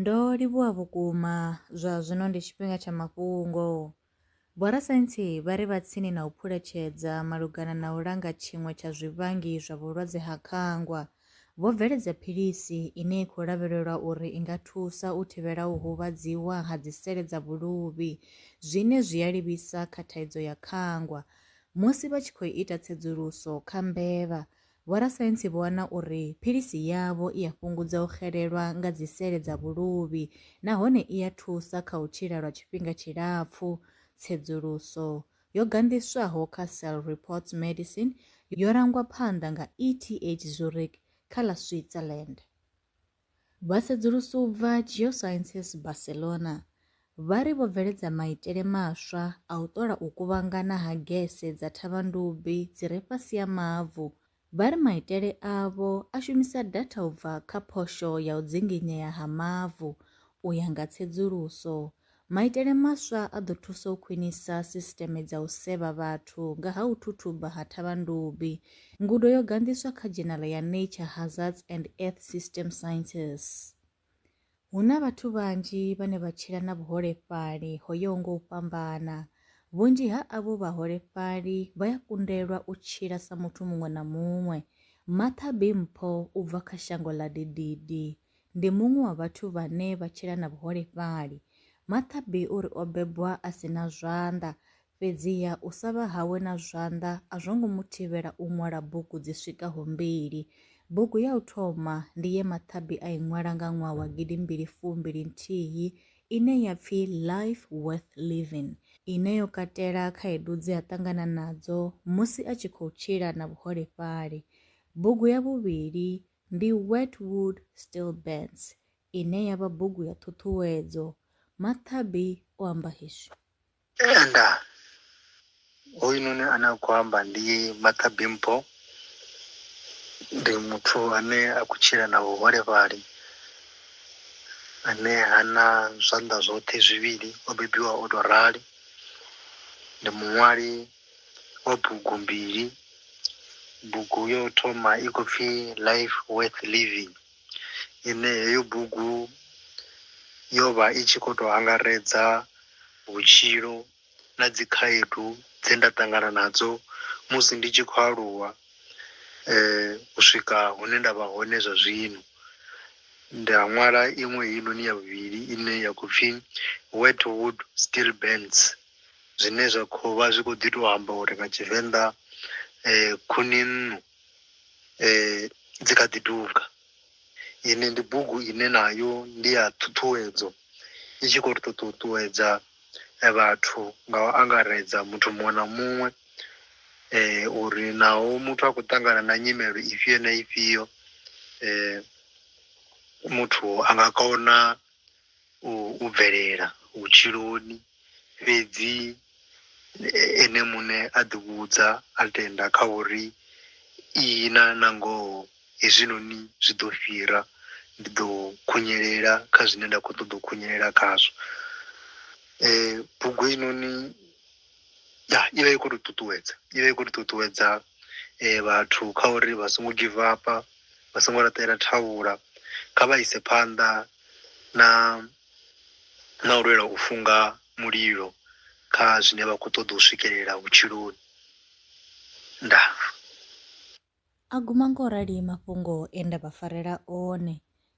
Ndo livhuwa vhukuma, zwa zwino ndi tshifhinga tsha mafhungo. Vhorasaintsi vha re vha tsini na u phuletshedza malugana na u langa tshiṅwe tsha zwivhangi zwa vhulwadze ha khangwa vho bveledza philisi ine i khou lavhelelwa uri i nga thusa u thivhela u huvhadziwa ha dzisele dza vhuluvhi zwine zwi a livhisa kha thaidzo ya khangwa. Musi vha tshi khou ita tsedzuluso kha mbevha, Vhorasaintsi vho wana uri philisi yavho i a fhungudza u xelelwa nga dzisele dza vhuluvhi nahone i a thusa kha u tshila lwa tshifhinga tshilapfu. Tsedzuluso yo ganḓiswaho kha Cell Reports Medicine yo rangwa phanḓa nga ETH Zurich kha ḽa Switzerland. Vhasedzulusi u bva Geosciences Barcelona vha ri vho bveledza maitele maswa a u ṱola u kuvhangana ha gese dza thavhandubi dzi re fhasi ha mavu. Vha ri maitele avho a shumisa datha u bva kha phosho ya u dzinginyea ha mavu. U ya nga tsedzuluso, Maitele maswa a ḓo thusa u khwinisa sisiṱeme dza u sevha vhathu nga ha u thuthuba ha thavhandubi. Ngudo yo ganḓiswa kha dzhenala ya Nature Hazards and Earth System Sciences. Hu na vhathu vhanzhi vhane vha tshila na vhuholefhali ho yaho nga u fhambana. Vhunzhi ha avho vhaholefhali vha ya kundelwa u tshila sa muthu muṅwe na muṅwe. Martha Bimpho u bva kha shango ḽa Dididi, ndi muṅwe wa vhathu vhane vha tshila na vhuholefhali. Mathabi u ri o bebwa a si na zwanḓa, fhedziha u sa vha hawe na zwanḓa a zwo ngo mu thivhela u ṅwala bugu dzi swikaho mbili. Bugu ya u thoma ndi ye Mathabi a i ṅwala nga ṅwaha wa gidi mbili fumbili nthihi ine ya pfi Life Worth Living, ine yo katela khaedu dze a ṱangana nadzo musi a tshi khou tshila na vhuholefhali. Bugu ya vhuvhili Ndi Wet Wood Still Burns, ine ya vha bugu ya ṱhuṱhuwedzo. Mathabi o amba hezwi. Tenda. Hoyunoni ane a khou amba ndi Mathabi Mpho. Ndi muthu ane a khou tshila na vhuholefhali, ane ha na zwanḓa zwoṱhe zwivhili, o bebiwa o tou rali. Ndi muṅwali. wa bugu mbili bugu yo thoma i khou pfhi life worth living ine heyo bugu yo vha i tshi khou tou angaredza vhutshilo na dzi khaedu dze nda ṱangana nadzo musi ndi tshi khou aluwa um u swika hune nda vha hone zwa zwino nda ṅwala iṅwe heinoni ya vhuvhili ine ya khou pfhi word to word still burns. zwine zwa khou vha zwi khou ḓi tou amba uri nga tshivenḓa um khuni nṋu um dzi kha ḓi duga ine ndi bugu ine nayo ndi ya ṱhuṱhuwedzo i tshi khou tou ṱuṱuwedza eh, vhathu nga u angaredza muthu muṅwe na muṅwe um uri naho muthu a khou ṱangana na nyimelo ifhio na ifhio um muthu a nga kona u, u bvelela vhutshiloni, fhedzi e- ene muṋe a ḓivhudza a tenda kha uri ihina nangoho hezwinoni zwi ḓo fhira, ndi ḓo khunyelela kha zwine nda khou ṱoḓa u khunyelela khazwo. Eh, bugu heinoni ya i vha i khou tou ṱuṱuwedza, i vha i khou tou ṱuṱuwedza eh, vhathu kha uri vha songo give up, vha songo laṱela thavhula kha vha ise phanḓa na na u lwela u funga mulilo kha zwine vha khou ṱoḓa u swikelela vhutshiloni ndaa a guma nga u rali mafhungo e nda vha farela one